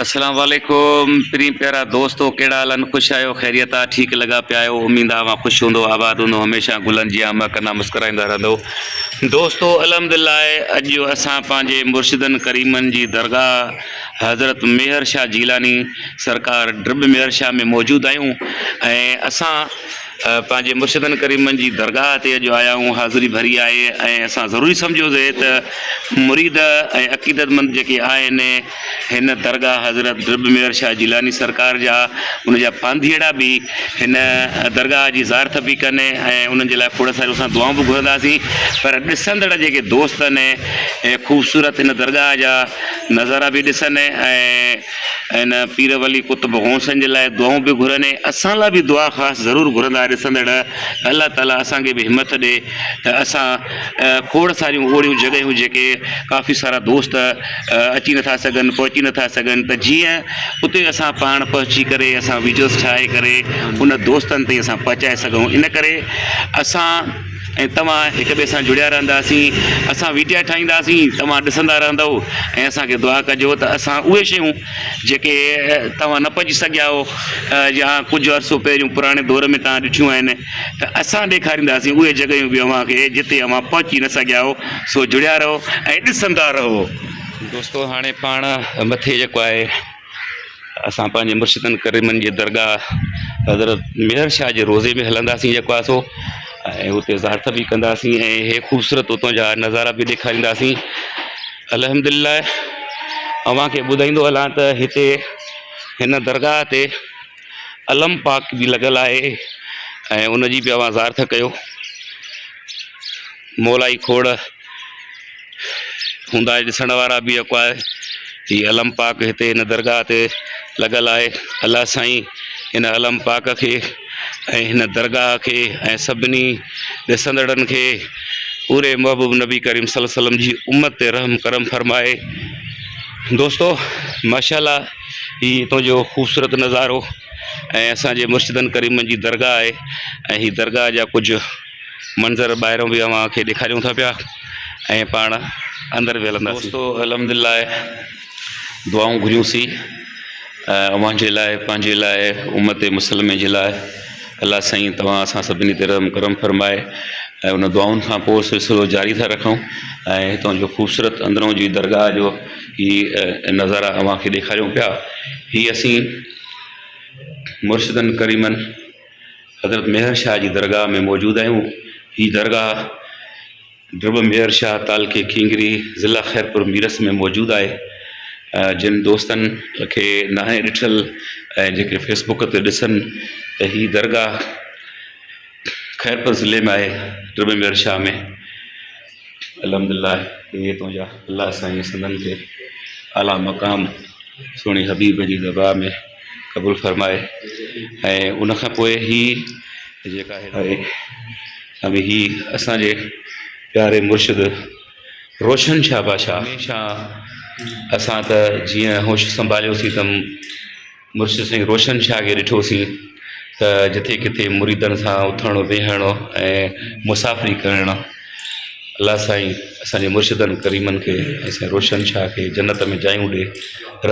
اسلام عليڪم پرين پيارا دوستو ڪهڙا حال آهن خوش آهيو خيريت آ ٺيڪ لڳا پيا آهيو اميد آ اوهان خوش هوندو آباد هوندو هميشه گلن جيان مهڪندا مسڪرائيندا رهندو دوستو الحمدلله اڄ جو اسان پنهنجي مرشدن ڪريمن جي درگاهه حضرت ميهر شاهه جيلاني سرڪار ڊرب ميهر شاهه ۾ موجود آهيون ۽ اسان پنهنجي مرشدن ڪريمن جي درگاهه تي اڄ آيائون، حاضري ڀري آهي ۽ اسان ضروري سمجهيو سي ته مريد ۽ عقيدتمند جيڪي آهن، هن درگاهه حضرت ڊرٻ مير شاهه جيلاني سرڪار جا ان جا پانڌيئڙا به هن درگاهه جي زارٿ به ڪن ۽ انهن جي لاء کوڙ ساريون اسان دعائون به گهرنداسين پر ڏسندڙ جيڪي دوست آهن خوبصورت هن درگاهه جا نظارا به ڏسن ۽ ۽ نه پير ولي قطب غوثن جي لاء دعائون به گهرن ۽ اسان لاء به دعا خاص ضرور گهرندا ڏسندڙ الله تعالي اسان کي به همٿ ڏي ته اسان کوڙ ساريون اهڙيون جڳهيون جيڪي ڪافي سارا دوست اچي نٿا سگهن پهچي نٿا سگهن ته جيئن اتي اسان پاڻ پهچي ڪري اسان ويڊيوز ٺاهي ڪري ان دوستن تائين اسان پهچائي سگهون ان ڪري اسان ۽ توهان هڪ ٻئي سان جڙيا رهنداسين اسان ويڊيا ٺاهينداسين توهان ڏسندا رهندؤ ۽ اسان کي دعا ڪجو ته اسان اهي شيون جيڪي توهان نه پڄي سگهيا هو يا ڪجهه عرصو پهريون پراڻي دور ۾ توهان ڏٺيون آهن ته اسان ڏيکارينداسين اهي جڳهيون به اوهان کي جتي اوهان پهچي نه سگهيا هو سو جڙيا رهو ۽ ڏسندا رهو. دوستو هاڻي پاڻ مٿي جيڪو آهي اسان پنهنجي مرشدن ڪريمن جي درگاهه حضرت ميهڙ شاهه جي روضي ۾ هلنداسين يڪو آسو ۽ اتي زيارت به ڪنداسين ۽ هي خوبصورت اتان جا نظارا به ڏيکارينداسين الحمد لله اوهانکي ٻڌائيندو هلان ته هتي هن درگاهه تي علم پاڪ به لڳل آهي ۽ ان جي به اوهان زيارت ڪيو مولائي کوڙ هوندا اهي ڏسڻ وارا به يڪو آهي هي علم پاڪ هتي هن درگاهه تي لڳل آهي الله سائين هن علم پاڪ کي ۽ هن درگاهه کي ۽ سڀني ڏسندڙن کي پوري محبوب نبي ڪريم صلي وسلم جي امت تي رحم کرم فرمائي دوستو ماشاء الله هي هتو جو خوبصورت نظارو ۽ اسان جي مرشدن ڪريمن جي درگاهه آهي ۽ هي درگاهه جا ڪجهه منظر ٻاهريون به اوهان کي ڏيکاريون ٿا پيا ۽ پاڻ اندر به هلنداسين. دوستو الحمد لله دعائون گهريون سي اوهان جي لاء پنهنجي لاء امت مسلمي جي لاء الله سائين توهان اسان سڀني تي رحم ڪرم فرمائي ۽ ان دعائن کان پوء سلسلو جاري ٿا رکون ۽ هتان جو خوبصورت اندرون جي درگاهه جو هي نظارا اوهان کي ڏيکاريون پيا هي اسين مرشدن ڪريمن حضرت ميهر شاهه جي درگاهه ۾ موجود آهيون هي درگاهه ڊرٻ ميهر شاهه تعلقي کينگري ضلع خيرپور ميرس ۾ موجود آهي جن دوستن کي ناهي ڏٺل ۽ جيڪي فيسبوڪ تي ڏسن ته هي درگاهه خيرپور ضلعي ۾ آهي ڊرٻ ميهر شاهه ۾ الحمد الله اهي تنهنجا الله سائين سندن کي اعليٰ مقام سهڻي حبيب جي دربار ۾ قبول فرمائي ۽ ان کان پوء هي جيڪا هدايت ۽ هي اسانجي پياري مرشد روشن شاهه بادشاهه هميشه اسان ته جيئن هوش سنڀاليوسين تم مرشد سائين روشن شاهه کي ڏٺوسين ته جٿي ڪٿي مريدن سان اٿڻ ويهڻ ۽ مسافري ڪرڻ الله سائين اسانجي مرشدن ڪريمن کي ۽ سائين روشن شاهه کي جنت ۾ جايون ڏي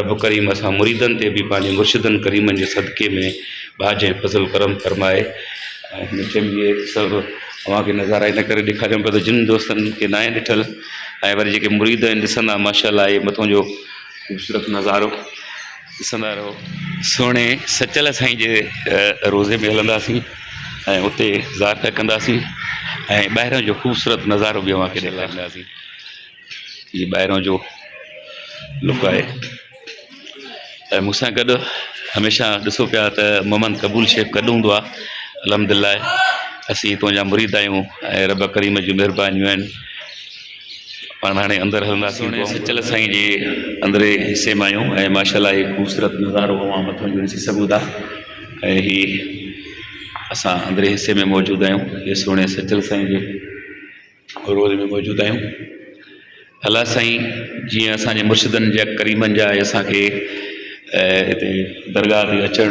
رب ڪريم اسان مريدن تي به پنهنجي مرشدن ڪريمن جي صدقي ۾ ٻاجهه ۽ فضل ڪرم فرمائي ۽ هن چيم اهي سڀ اوهانکي نظارا ان ڪري ڏيکاريم پيو ته جن دوستن کي ناهي ڏٺل ۽ وري جيڪي مريد آهن ڏسندا ماشاء الله اهي مٿو جو خوبصورت نظارو ڏسندا رهو سهڻي سچل سائين جي روضي ۾ هلنداسين ۽ اتي زيارت ڪنداسين ۽ ٻاهران جو خوبصورت نظارو به اوهانکي ڏيکارينداسين هي ٻاهران جو لڪ آهي ۽ مون سان گڏ هميشه ڏسو پيا ته محمد قبول شيخ گڏ هوندو آهي الحمد لله اسين تنهنجا مريد آهيون ۽ رب ڪريم جون مهربانيون آهن پاڻ هاڻي اندر هلنداسين ۽ سچل سائين جي اندرين حصي مان آهيون ۽ ماشاءالله هي خوبصورت نظارو اوهان مٿان جو ڏسي سگهو ٿا ۽ هي اسان اندرين حصي ۾ موجود آهيون هي سهڻي سچل سائين جي رول ۾ موجود آهيون الله سائين جيئن اسانجي مرشدن جا ڪريمن جا اسانکي هتي درگاهه تي اچڻ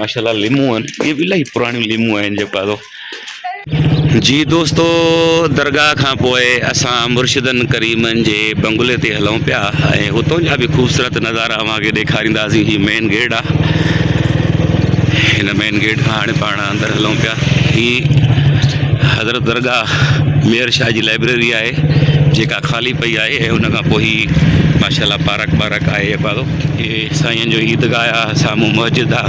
ماشاالله ليمون آهن اهي به الاهي پراڻيون ليمون آهن جيڪو آهي سو جي دوستو درگاهه کان پوء اسان مرشدن ڪريمن جي بنگلي تي هلون پيا ۽ هتون جا به خوبصورت نظارا اوهان کي ڏيکارينداسين هي مين گيٽ آهي هن مين گيٽ کان هاڻي پاڻ اندر هلون پيا هي حضرت درگاهه مير شاهه جي لائبريري آهي جيڪا خالي پئي آهي ۽ ان کان پوء هي ماشاءالله پارڪ وارڪ آهي اي سائين جو عيد گاهه آ سامهون مسجد آ.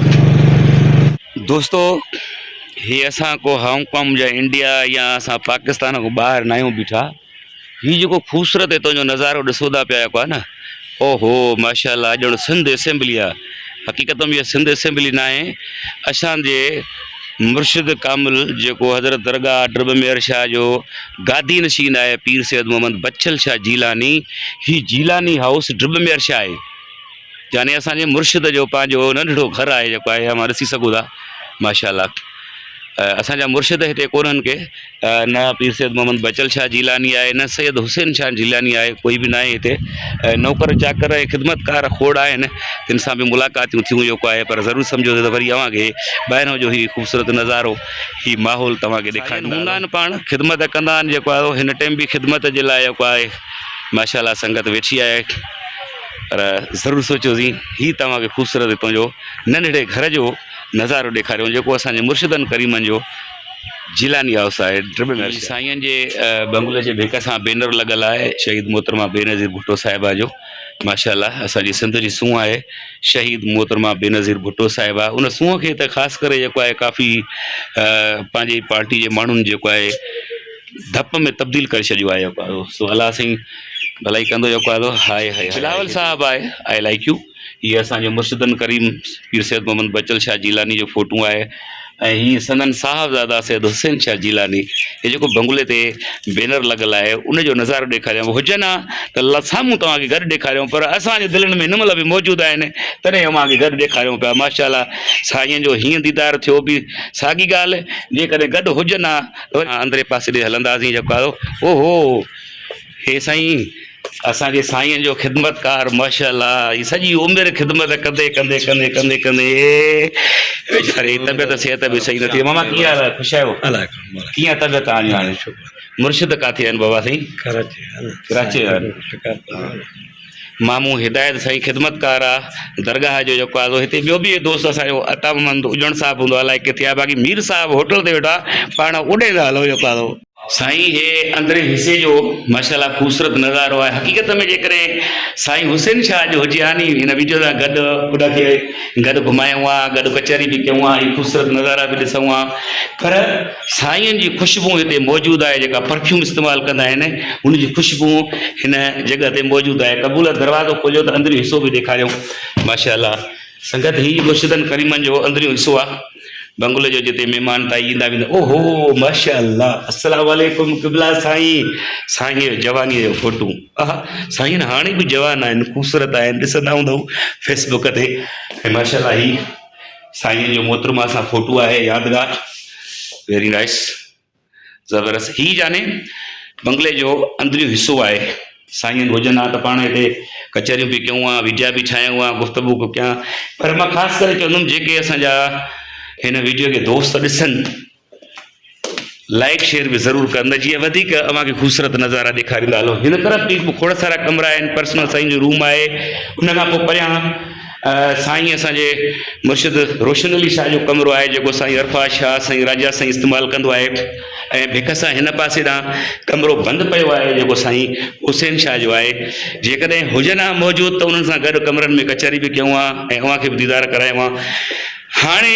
دوستو هي اسان ڪو هانگ ڪانگ يا انڊيا يا اسان پاڪستان کان ٻاهر نه آهيون بيٺا هي جيڪو خوبصورت هتان جو نظارو ڏسو ٿا پيا جيڪو آهي نه اوهو ماشاءالله ڄڻ سنڌ اسيمبلي آ حقيقت ۾ اها سنڌ اسيمبلي نه آهي اسان جي مرشد ڪامل جيڪو حضرت درگاهه ڊرب مير شاهه جو گادي نشين آهي پير سيد محمد بچل شاهه جيلاني هي جيلاني هائوس ڊرب مير شاهه آهي. يعني اسان جي مرشد جو پنهنجو ننڍڙو گهر آهي جيڪو آهي اوهان ڏسي سگهو ٿا ماشاء الله اسان جا مرشد هتي ڪونهن ڪي نه پير سيد محمد بچل شاهه جيلاني آهي نه سيد حسين شاهه جيلاني آهي ڪوئي به ناهي هتي نوڪر چاڪر ۽ خدمتڪار کوڙ آهن تن سان به ملاقاتيون ٿيون جيڪو آهي پر ضرور سمجهو ته وري اوهان کي ٻاهران جو هي خوبصورت نظارو هي ماحول توهان کي ڏيکاريندا هوندا آهن پاڻ خدمت ڪندا آهن جيڪو آهي هن ٽيم به خدمت جي لاء جيڪو آهي ماشاءالله سنگت ويٺي آهي پر ضرور سوچيو سين هي توهان کي خوبصورت هتون جو ننڍڙي گهر جو نظارو ڏيکاريون جيڪو اسان جي مرشدن ڪريمن جو جيلاني هائوس آهي ٽرپل نرسري سائين جي بنگلي جي ڀيڪ سان بينر لڳل آهي شهيد محترمه بينظير ڀٽو صاحبه جو ماشاءالله اسان جي سنڌ جي سونهن آهي شهيد محترمه بينظير ڀٽو صاحبه ان سونهن کي ته خاص ڪري جيڪو آهي ڪافي پنهنجي پارٽي جي ماڻهن جيڪو آهي ڊپ ۾ تبديل ڪري ڇڏيو آهي يڪو آدو سو الله سائين ڀلائي ڪندو يڪو آدو هاء هاء بلاول صاحب آء آء لائڪ يو هي اسان جو مرشدن ڪريم پير سيد محمد بچل شاهه جيلاني جو فوٽون آهي ۽ هي سندن صاحبزادا سيد حسين شاهه جيلاني هي جيڪو بنگلي تي بينر لڳل آهي ان جو نظارو ڏيکاريان هجن ها ته الله سامهون توهان کي گڏ ڏيکاريون پر اسان جي دلين ۾ هن مهل به موجود آهن تڏهن اوهان کي گڏ ڏيکاريون پيا ماشاءالله سائين جو هيئن ديدار ٿيو به ساڳي ڳالهه جيڪڏهن گڏ هجن ها وري اندرين پاسي ڏي هلنداسين جيڪو آيو او هو هي سائين اسان جي سائين جو خدمتگار ماشاءالله هي سڄي عمر خدمت ڪندي ڪندي ڪندي ڪندي ڪندي ويچاري طبيعت صحت به صحيح نٿي ماما ڪيئن حال آهي خوش آهيو ڪيئن طبيعت آهي هاڻي مرشد ڪاٿي آهن بابا سائين ڪراچي ڪراچي ويا آهن مامو هدايت سائين خدمتگار آ درگاهه جو جيڪو آ سو هتي ٻيو به دوست اسانجو عطا محمد اجڻ صاحب هوندو آ الائي ڪٿي آ باقي مير صاحب هوٽل تي ويٺو آ پاڻ اڏيندا هلو جيڪو آ سو. سائين هي اندرين حصي جو ماشاء الله خوبصورت نظارو آهي حقيقت ۾ جيڪڏهن سائين حسين شاهه اڄ هجي ها ني هن ويڊيو سان گڏ ان کي گڏ گهمايون ها گڏ ڪچهري به ڪيون ها هي خوبصورت نظارا به ڏسون ها پر سائين جي خوشبو هتي موجود آهي جيڪا پرفيوم استعمال ڪندا آهن ان جي خوشبو هن جڳهه تي موجود آهي قبولت دروازو کوليو ته اندريون حصو به ڏيکاريون ماشاء الله سنگت هي مرشدن ڪريمن جو اندريون حصو آهي بنگلو جو جتي مهمان تائي ايندا ويندا او هو ماشاء الله السلام عليڪم قبلا سائين سائين جو جواني جو فوٽو اها سائين هاڻي به جوان آهن خوبصورت آهن ڏسندا هوندو فيسبوڪ تي ماشاء الله هي سائين جو محترمه سان فوٽو آهي يادگار ويري نائس زبردست هي جاني بنگلي جو اندريون حصو آهي سائين جن هجن ها ته پاڻ هتي ڪچهريون به ڪيون ها ويڊيا به ٺاهيون ها گفتگو به ڪيان پر مان خاص ڪري چوندم جيڪي اسان جا هن ويڊيو کي دوست ڏسن لائيڪ شيئر به ضرور ڪر نه جيئن وڌيڪ اوهان کي خوبصورت نظارا ڏيکاريندا هلون هن طرف به کوڙ سارا ڪمرا آهن پرسنل سائين جو روم آهي ان کان پوء پريان سائين اسان جي مرشد روشن علي شاهه جو ڪمرو آهي جيڪو سائين عرفا شاهه سائين راجا سائين استعمال ڪندو آهي ۽ ڀڪ سان هن پاسي ڏانهن ڪمرو بند پيو آهي جيڪو سائين حسين شاهه جو آهي جيڪڏهن هجن ها موجود ته انهن سان گڏ ڪمرن ۾ ڪچهري به ڪيون ها ۽ اوهان کي به ديدار ڪرايون ها هاڻي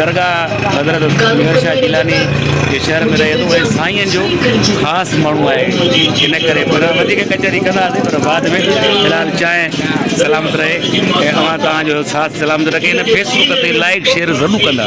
درگاهه حضرت مير شاهه جيلاني جي شهر ۾ رهي ٿو ۽ سائين جو خاص ماڻهو آهي ان ڪري پهريان وڌيڪ ڪچهري ڪنداسين پر بعد ۾ في الحال چانهه سلامت رهي ۽ اوهان توهان جو ساٿ سلامت رکي هن فيسبڪ تي لائڪ شيئر ضرور ڪندا